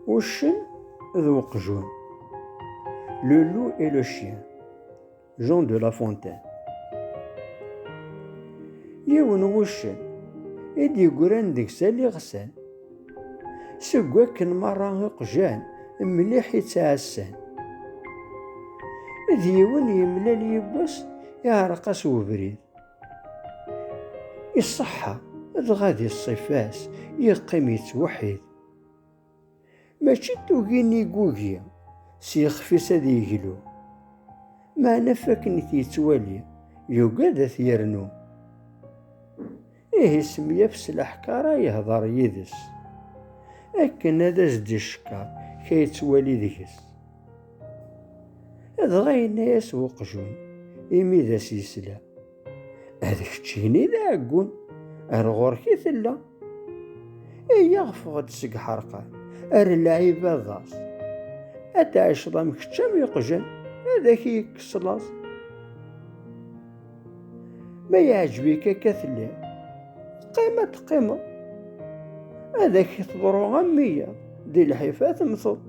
Uccen d uqjun. Le loup et le chien. Jean de La Fontaine. Yiwen wuccen i d-yeggran deg-s aliɣsan. Seg wakken merra iqjan mliḥ i ttɛassan. D yiwen yemlal yiwwas iɛreq-as ubrid. Iṣeḥḥa, dɣa di ṣṣifa-s yeqqim yettweḥḥid. Mačči d tugi n yigugi, s yixef-is ad yeglu. Meɛna fakken i t-yettwali, yugad ad t-yernu. Ihi semyaf s leḥkara yehder yid-s, akken ad as-d-icekker ka yettwali deg-s. Dɣa yenna-yas uqjun, imi d as-yesla, ad keččini d aɛeggun, ar ɣur-k i tella. Iyya ɣfeɣ-d seg ḥerqan, ar lɛib aḍas. Ad tɛiceḍ am kečč am iqjan, ad ak-yekkes laẓ. ma yeɛjeb-ik akka telliḍ qim ad teqqimeḍ ad ak-teḍru am wiyaḍ di lḥif ad temteḍ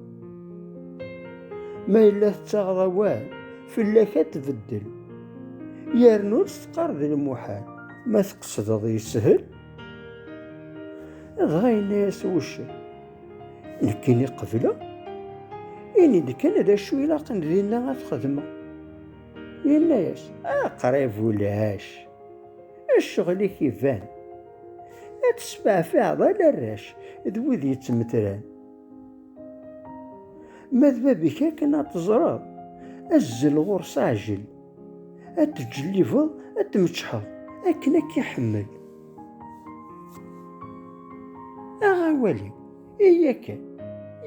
ma yella tettaɣeḍ awal fell-ak ad tbeddel yernu ur teqqar d lmuḥal ma tqesdeḍ yeshel dɣa yenna-yas wuccen nekkini qebleɣ ini-d kan d acu ilaqen dinna ad xedmeɣ Yenna-yas, aqrib ulac, ccɣel-ik iban. Ad tesbeɛfiɛeḍ ala arrac d wid yettmetran. Ma d bab-ik akken ad teẓreḍ, azzel ɣur-s aɛjel. Ad tǧellibeḍ, ad tmeččḥeḍ, akken ad k-iḥemmel. Aɣ awal-iw. Iya kan,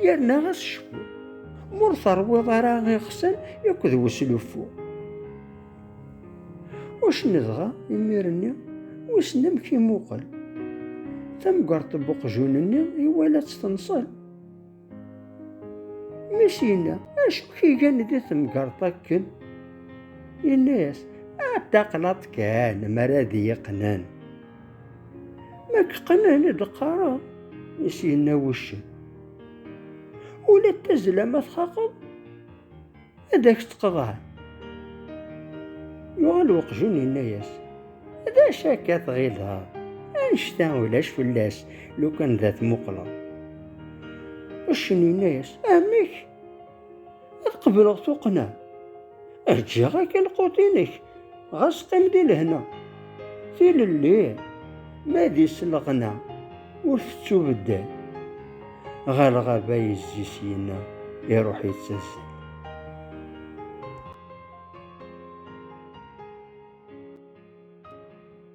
yerna ɣas cfu, m'ur terwiḍ ara iɣsan yakk d wesluffu. Ucen dɣa, imir-nni, wissen amek imuqel. Tamgert n uqjun-nni iwala-tt tenṣel. Mi-s yenna, acu k-igan di temgert akken? Yenna-yas, a taqlaḍ kan, m'ara d-iyi-qnen. Ma keqqnen i d-qqareḍ, i s-yenna wuccen. Ula d tazla ma txaqeḍ, ad ak-tt-qeḍɛen. Yuɣal uqjun yenna-yas, d acu akka tɣileḍ? Annect-a ulac fell-as, lukan d at muqleḍ. Uccen yenna-yas, amek? ad qebleɣ tuqqna ad ǧǧiɣ akka lqut-inek ɣas qim di lehna tilelli ma di sleɣna ur tettubeddal ɣer lɣaba yezzi syina iruḥ yettazzal